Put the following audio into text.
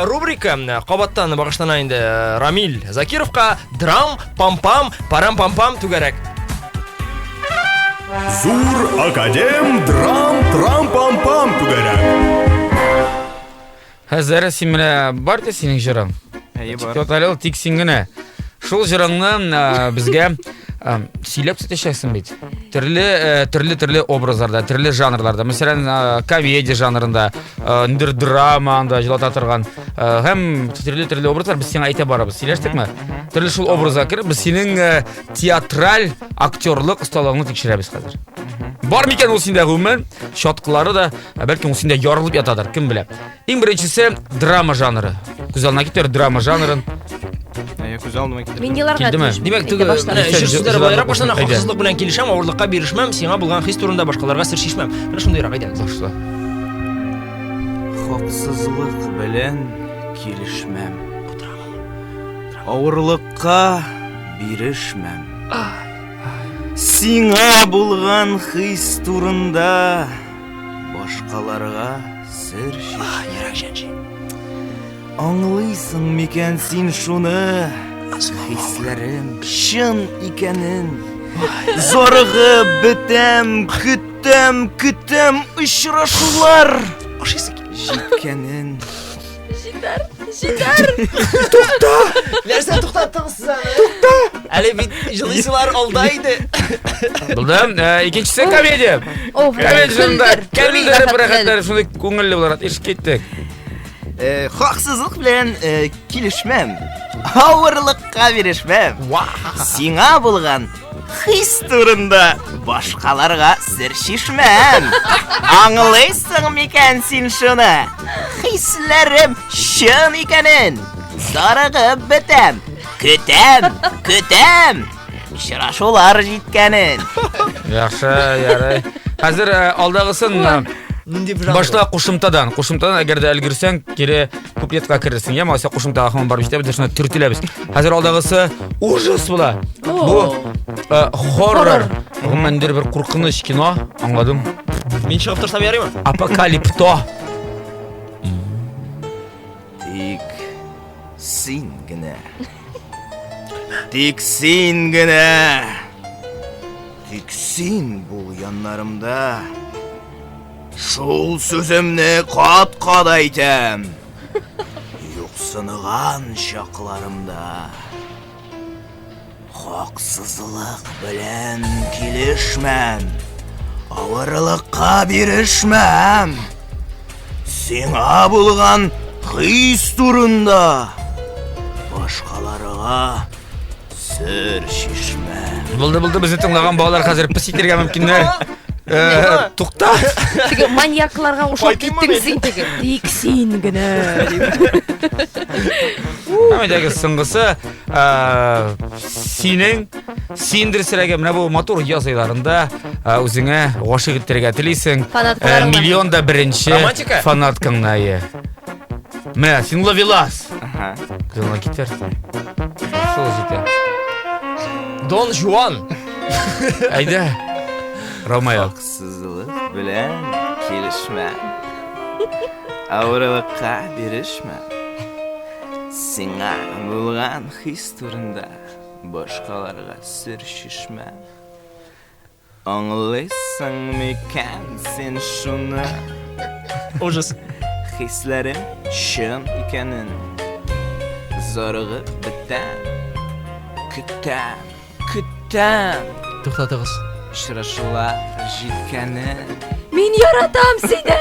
рубрика кабаттан багышлана инде э, Рамил Закировка драм пам-пам парам-пам-пам түгәрәк. Зур академ драм трам пам-пам түгәрәк. Хәзер син менә бар да синең җырың. Әйе бар. Тоталел тик син генә. Шул җырыңны ә, безгә ә, сөйләп төшәсең бит. Төрле ә, төрле төрле образларда, төрле жанрларда. Мәсәлән, ә, комедия жанрында, ә, ниндер драма анда җылата торган. Ә, һәм төрле төрле образлар без сиңа әйтә барабыз. Сөйләштекме? Төрле шул образга кереп без синең ә, театраль актерлык осталыгыңны тикшерәбез хәзер. Бар микән ул синдә гомумән? Чаткылары да Ә бәлки ул синдә ярылып ятадыр, кем белә. Иң беренчесе драма жанры. Күз алдына китер драма жанрын. Әйе, күз алдыма китердем. Мин еларга Килдеме? тиеш. Димәк, теге- Әйтә Менә Нисә җыр җыр- сүзләре байлап башлана, әйдә. хаксызлык белән килешәм, авырлыкка бирешмәм, сиңа булган хис турында башкаларга сер шишмәм. Менә шундыйрак әйдә. Башла. Хаксызлык белән килешмәм. Авырлыкка бирешмәм. Сиңа булган хис турында Башкаларга сер чишмә. Аңлыйсың микән син шуны? Хисләрем чын икәнен. Зарыгып бетәм, көтәм, көтәм очрашулар. Ашыйсы килә. Җиткәнен. Җитәр, җитәр. Тукта! Нәрсә туктаттыңыз сез аны? Тукта! Әле бит җылыйсылар алда иде. Булдым. Э, икенчесе комедия. О, Комедия жырында кәлдер бер хәтер шундый күңелле буларак ишек киттек. Э, хаксызлык белән э, килешмәм. Авырлыкка бирешмәм. Сиңа булган Хис турында башкаларга сер шишмәм. Аңлыйсың микән син шуны? Хисләрем чын икәнен. Зарыгып бетәм. Көтәм, көтәм. Очрашулар җиткәнен. Яхшы, ярый. Хәзер э, алдагысын э, Нинди бер башла кушымтадан. Кушымтадан әгәр дә өлгерсәң, кире куплетка керерсең я маса кушымтага һаман барып җитәбез шуны төртеләбез хәзер алдагысы ужас була бу э, хоррор гомумән бер куркыныч кино аңладым мин чыгып торсам ярыймы апокалипто тик син генә тик син генә тик син бул яннарымда Шул сүземне кат-кат әйтәм. Юксыныган чакларымда хаксызлык белән килешмәм. Авырлыкка бирешмәм. Сиңа булган хис турында башкаларга Сер чишмә. Булды, булды, безне тыңлаган балалар хәзер пес итәргә мөмкиннәр. Э, Тукта. Теге маньякларга ошап киттең син теге. Тик син генә. Әмәдәге сыңгысы э, синең синдер сирәге менә бу матур яз айларында э, үзеңә гашыйк итәргә телисең. Э, Фанаткаларыңа. Миллион да беренче Романтика? фанаткаңнае. Мә, син ловелас. Ага. Кызына китерсең. Шул җитә. Дон Жуан. Әйдә. Ромео. Сызылып белән килешмә. Авырылыкка бирешмә. Сиңа булган хис турында башкаларга сер шишмә. Аңлыйсың микән син шуны? Ужас. Хисләрем чын икәнен. Зарыгып бетәм. Көтәм, көтәм. Туктатыгыз. Очрашулар җиткәнен. Мин яратам сине!